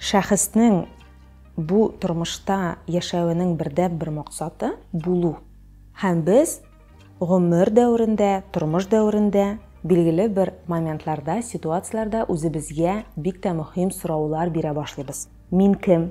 Шәхеснең бу тормышта яшәвенең бердәнбер максаты, булу. Һәм без гомер дәверендә, тормыш дәверендә, билгеле бер моментларда, ситуацияләрдә үзебезгә бик тә мөһим сораулар бирә башлыйбыз. Мин кем?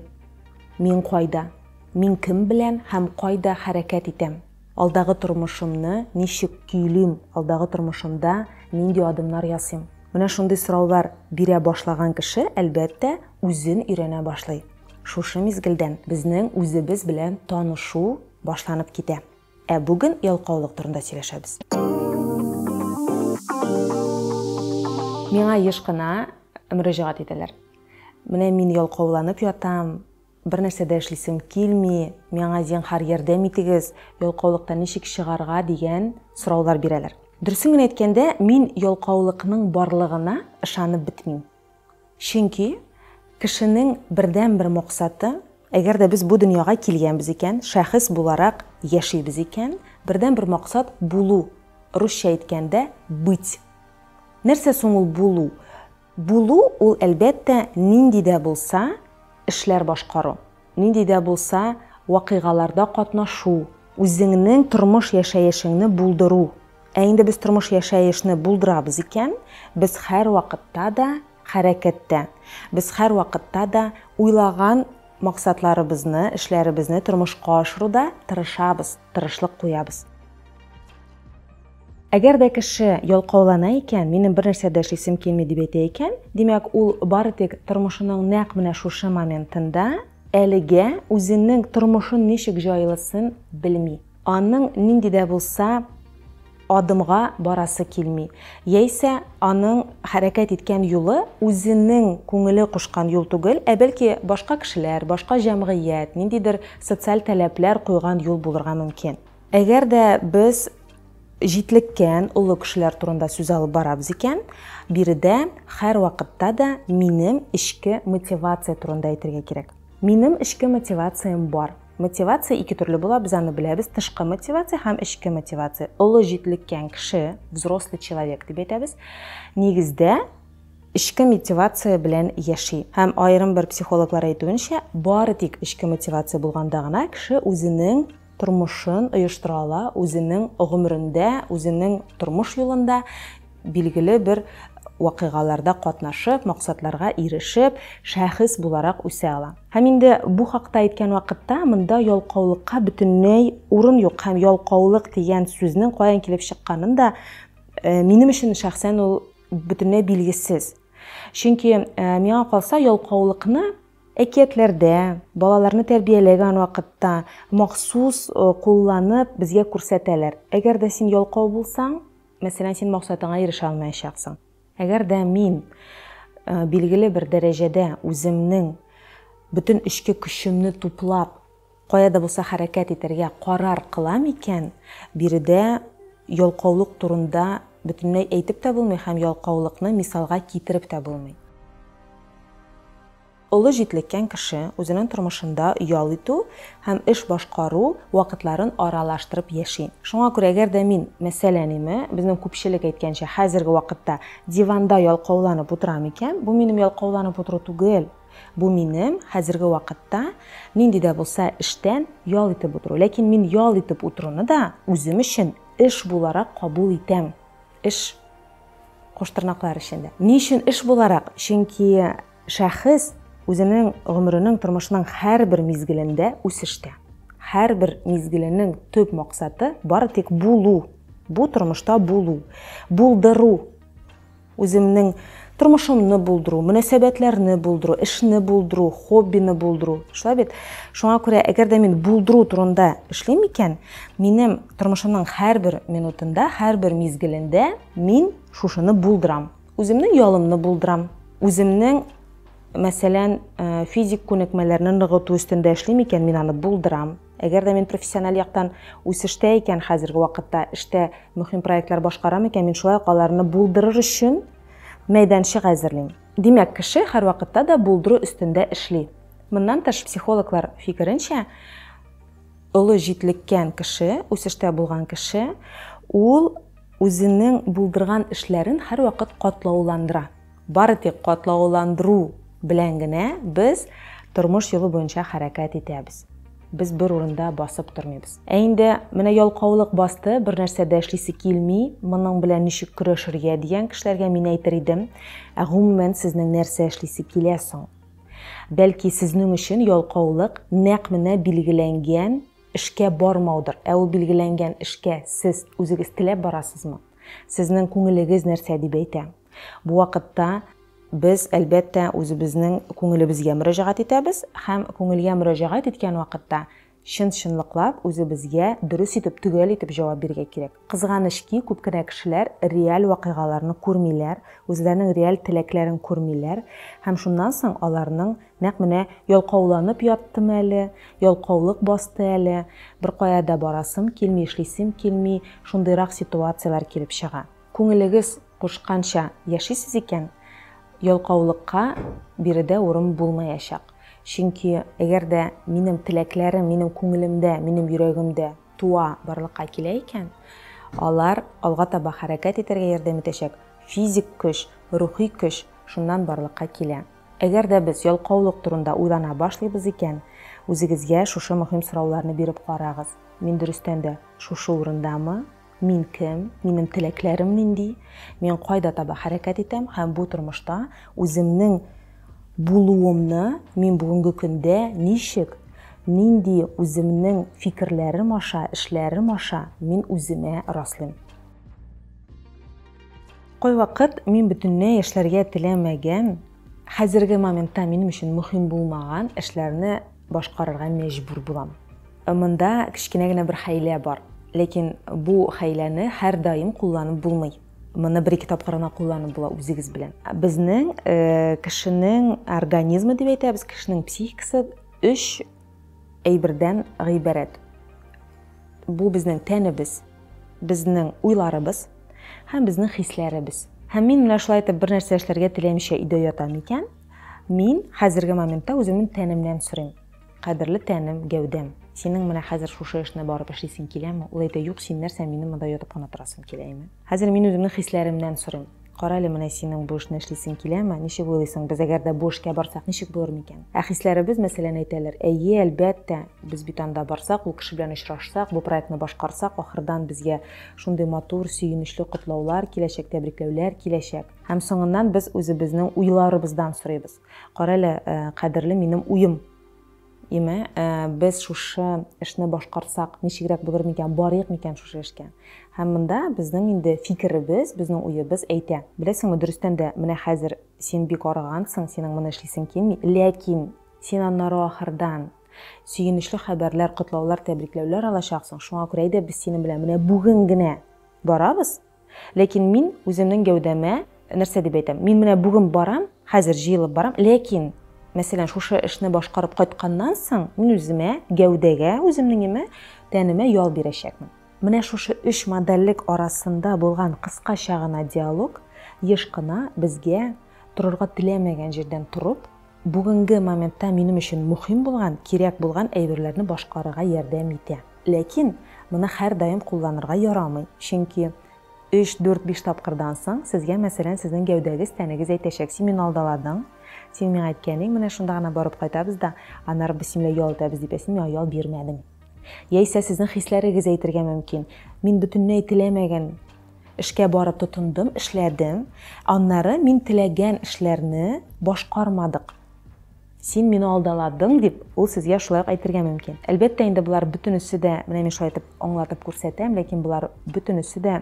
Мин кайда? Мин кем белән һәм кайда хәрәкәт итәм? Алдагы тормышымны ничек көйлим, алдагы тормышымда нинди адымнар ясыйм? Менә шундый сораулар бирә башлаган кеше, әлбәттә, үзен өйрәнә башлый. Шушы мизгелдән безнең үзебез белән танышу башланып китә. Ә бүген ялкаулык турында сөйләшәбез. Миңа еш кына мөрәҗәгать итәләр. Менә мин ялкауланып ятам, Бернәрсә дә эшлисем килми, миңа зинһар ярдәм итегез, ялкаулыктан ничек чыгарга дигән сораулар бирәләр. Дөресен генә әйткәндә, мин ялкаулыкның барлыгына ышанып бетмим. Чөнки кешенең бердәнбер максаты, әгәр дә без бу дөньяга килгәнбез икән, шәхес буларак яшибез икән, бердәнбер максат булу, русча әйткәндә быть. Нәрсә соң ул булу? Булу ул, әлбәттә, нинди дә булса эшләр башкару, нинди дә булса вакыйгаларда катнашу, үзеңнең тормыш-яшәешеңне булдыру. Ә инде без тормыш-яшәешне булдырабыз икән, без һәрвакытта да хәрәкәттә, без һәрвакытта да уйлаган максатларыбызны, эшләребезне тормышка ашыруда тырышабыз. тырышлык куябыз. Әгәр дә кеше ялкаулана икән, минем бер нәрсә дә эшлисем килми дип әйтә икән, димәк, ул бары тик тормышының нәкъ менә шушы моментында әлегә үзенең тормышын ничек җайлысын белми. Аның нинди дә булса Адымга барасы килми. Яисә аның хәрәкәт иткән юлы үзенең күңеле кушкан юл түгел, ә бәлки башка кешеләр, башка җәмгыять, ниндидер социаль таләпләр куйган юл булырга мөмкин. Әгәр дә без җитлеккән олы кешеләр турында сүз алып барабыз икән, биредә һәрвакытта да минем эчке мотивация турында әйтергә кирәк. Минем эчке мотивациям бар. Мотивация ике төрле була, без аны беләбез, тышкы мотивация һәм эчке мотивация. Олы җитлеккән кеше, взрослый человек дип әйтәбез. Нигездә эчке мотивация белән яши. Һәм аерым бер психологлар әйтүенчә, бары тик эчке мотивация булганда гына кеше үзенең тормышын оештыра ала, үзенең гомерендә, үзенең тормыш юлында билгеле бер вакыйгаларда катнашып, максатларга ирешеп, шәхес буларак үсә ала. Һәм инде бу хакта әйткән вакытта монда ялкаулыкка бөтенләй урын юк һәм ялкаулык дигән сүзнең каян килеп чыкканын да э, минем өчен шәхсән ул бөтенләй билгесез. Чөнки э, миңа калса ялкаулыкны әкиятләрдә, балаларны тәрбияләгән вакытта махсус э, кулланып безгә күрсәтәләр. Әгәр дә син ялкау булсаң, Мәсәлән, син максатыңа ирешә алмаячаксың. Әгәр дә мин билгеле бер дәрәҗәдә үземнең бөтен эчке көчемне туплап, кая да булса хәрәкәт итәргә карар кылам икән, биредә ялкаулык турында бөтенләй әйтеп тә булмый һәм ялкаулыкны мисалга китереп тә булмый. Олы җитлеккән кеше үзенең тормышында ял итү һәм эш башкару вакытларын аралаштырып яши. Шуңа күрә әгәр дә мин, мәсәлән, име, безнең күпчелек әйткәнчә, хәзерге вакытта диванда ялкауланып утырам икән, бу минем ялкауланып утыру түгел. Бу минем хәзерге вакытта нинди дә булса эштән ял итеп утыру. Ләкин мин ял итеп утыруны да үзем өчен эш буларак кабул итәм. Эш куштырнаклар эчендә. Ни өчен эш буларак? Чөнки Шәхес үзенең гомеренең, тормышының һәрбер мизгелендә үсештә. Һәрбер мизгеленең төп максаты бары тик булу, бу тормышта булу, булдыру. Үземнең тормышымны булдыру, мөнәсәбәтләрне булдыру, эшне булдыру, хоббины булдыру. Шулай бит? Шуңа күрә, әгәр дә мин булдыру турында эшлим икән, минем тормышымның һәрбер минутында, һәрбер мизгелендә мин шушыны булдырам. Үземнең ялымны булдырам. Үземнең, мәсәлән, э, физик күнекмәләрне ныгыту өстендә эшлим икән, мин аны булдырам. Әгәр дә мин профессиональ яктан үсештә икән, хәзерге вакытта эштә мөһим проектлар башкарам икән, мин шулай ук аларны булдырыр өчен мәйданчык әзерлим. Димәк, кеше һәрвакытта да булдыру өстендә эшли. Моннан тыш, психологлар фикеренчә, олы җитлеккән кеше, үсештә булган кеше, ул Үзенең булдырган эшләрен һәрвакыт катлауландыра. Бары тик катлауландыру белән генә без тормыш юлы буенча хәрәкәт итәбез. Без бер урында басып тормыйбыз. Ә инде менә ялкаулык басты, бернәрсә дә эшлисе килми, моның белән ничек көрәшергә дигән кешеләргә мин әйтер идем, ә гомумән сезнең нәрсә эшлисе килә соң? Бәлки сезнең өчен ялкаулык нәкъ менә билгеләнгән Эшкә бармаудыр. Ә ул билгеләнгән эшкә сез үзегез теләп барасызмы? Сезнең күңелегез нәрсә дип әйтә? Бу вакытта без, әлбәттә, үзебезнең күңелебезгә мөрәҗәгать итәбез һәм күңелгә мөрәҗәгать иткән вакытта чын-чынлыклап үзебезгә дөрес итеп, төгәл итеп җавап бирергә кирәк. Кызганыч ки, күп кенә кешеләр реаль вакыйгаларны күрмиләр, үзләренең реаль теләкләрен күрмиләр һәм шуннан соң аларның нәкъ менә ялкауланып яттым әле, ялкаулык басты әле, беркая да барасым килми, эшлисем килми, шундыйрак ситуацияләр килеп чыга. Күңелегез кушканча яшисез икән, ялкаулыкка биредә урын булмаячак. Чөнки әгәр дә минем теләкләрем минем күңелемдә, минем йөрәгемдә, туа, барлыкка килә икән, алар алга таба хәрәкәт итәргә ярдәм итәчәк физик көч, рухи көч шуннан барлыкка килә. Әгәр дә без ялкаулык турында уйлана башлыйбыз икән, үзегезгә шушы мөһим сорауларны биреп карагыз, Мин дөрестән дә шушы урындамы? Мин кем? Минем теләкләрем нинди? Мин кайда таба хәрәкәт итәм һәм бу тормышта үземнең Булуымны, мин бүгенге көндә ничек, нинди үземнең фикерләрем аша, эшләрем аша мин үземә раслыйм. Кайвакыт мин бөтенләй эшләргә теләмәгән, хәзерге моментта минем өчен мөһим булмаган эшләрне башкарырга мәҗбүр булам. Монда кечкенә генә бер хәйлә бар, ләкин бу хәйләне һәрдаим кулланып булмый. Моны бер-ике тапкыр гына кулланып була үзегез белән. Безнең э, кешенең организмы дип әйтәбез, кешенең психикасы өч әйбердән гыйбарәт. Бу безнең тәнебез, безнең уйларыбыз һәм безнең хисләребез. Һәм мин менә шулай итеп бер нәрсә эшләргә теләмичә өйдә ятам икән, мин хәзерге моментта үземнең тәнемнән сорыйм. Кадерле тәнем, гәүдәм. Синең менә хәзер шушы эшне барып эшлисең киләме? Ул әйтә, Юк, син нәрсә, минем монда ятып кына торасым килә име? Хәзер мин үземнең хисләремнән сорыйм. Кара әле, менә синең бу эшне эшлисең киләме? Ничек уйлыйсың, без әгәр дә бу эшкә барсак, ничек булыр микән? Ә хисләребез, мәсәлән, әйтәлер, Әйе, әлбәттә, без бит анда барсак, ул кеше белән очрашсак, бу проектны башкарсак, ахырдан безгә шундый матур, сөенечле котлаулар киләчәк, тәбрикләүләр киләчәк. Һәм соңыннан без үзебезнең уйларыбыздан сорыйбыз. Карале, кадерле минем уем. Име, без шушы эшне башкарсак, ничегрәк булыр микән, барыйк микән шушы эшкә? Һәм монда безнең инде фикеребез, безнең уебыз әйтә. Беләсеңме, дөрестән дә, менә хәзер син бик арыгансың, синең моны эшлисең килми, ләкин син аннары ахырдан сөенечле хәбәрләр, котлаулар, тәбрикләүләр алачаксың, шуңа күрә әйдә без синең белән менә бүген генә барабыз, Ләкин мин үземнең гәүдәмә, нәрсә дип әйтәм, мин менә бүген барам, хәзер җыелып барам, ләкин, мәсәлән, шушы эшне башкарып кайтканнан соң, мин үземә, гәүдәгә, үземнеңеме, тәнемә ял бирәчәкмен. Менә шушы өч модальлек арасында булган кыскача гына диалог еш кына безгә торырга теләмәгән җирдән торып, бүгенге моментта минем өчен мөһим булган, кирәк булган әйберләрне башкарырга ярдәм итә. Ләкин моны һәрдаим кулланырга ярамый, чөнки өч, дүрт, биш тапкырдан соң сезгә, мәсәлән, сезнең гәүдәгез, тәнегез әйтәчәк, Син мине алдаладың, син миңа әйткәнең менә шунда гына барып кайтабыз да, аннары без син белән ял итәбез дип, ә син миңа ял бирмәдең. Яисә сезнең хисләрегез әйтергә мөмкин, Мин бөтенләй теләмәгән эшкә барып тотындым, эшләдем, аннары мин теләгән эшләрне башкармадык. Син мине алдаладың, дип, ул сезгә шулай ук әйтергә мөмкин. Әлбәттә инде, болар бөтенесе дә, менә мин шулай итеп аңлатып күрсәтәм, ләкин болар бөтенесе дә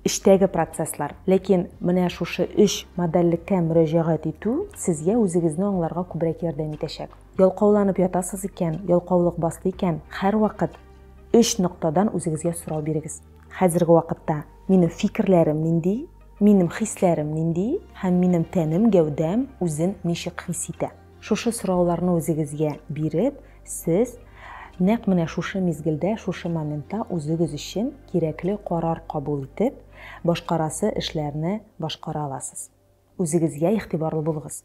эчтәге процесслар. Ләкин менә шушы өч модальлеккә мөрәҗәгать итү сезгә үзегезне аңларга күбрәк ярдәм итәчәк. Ялкауланып ятасыз икән, ялкаулык басты икән, һәрвакыт өч ноктадан үзегезгә сорау бирегез. Хәзерге вакытта минем фикерләрем нинди? Минем хисләрем нинди һәм минем тәнем, гәүдәм үзен ничек хис итә? Шушы сорауларны үзегезгә биреп, сез нәкъ менә шушы мизгелдә, шушы моментта үзегез өчен кирәкле карар кабул итеп, башкарасы эшләрне башкара аласыз. Үзегезгә игътибарлы булыгыз.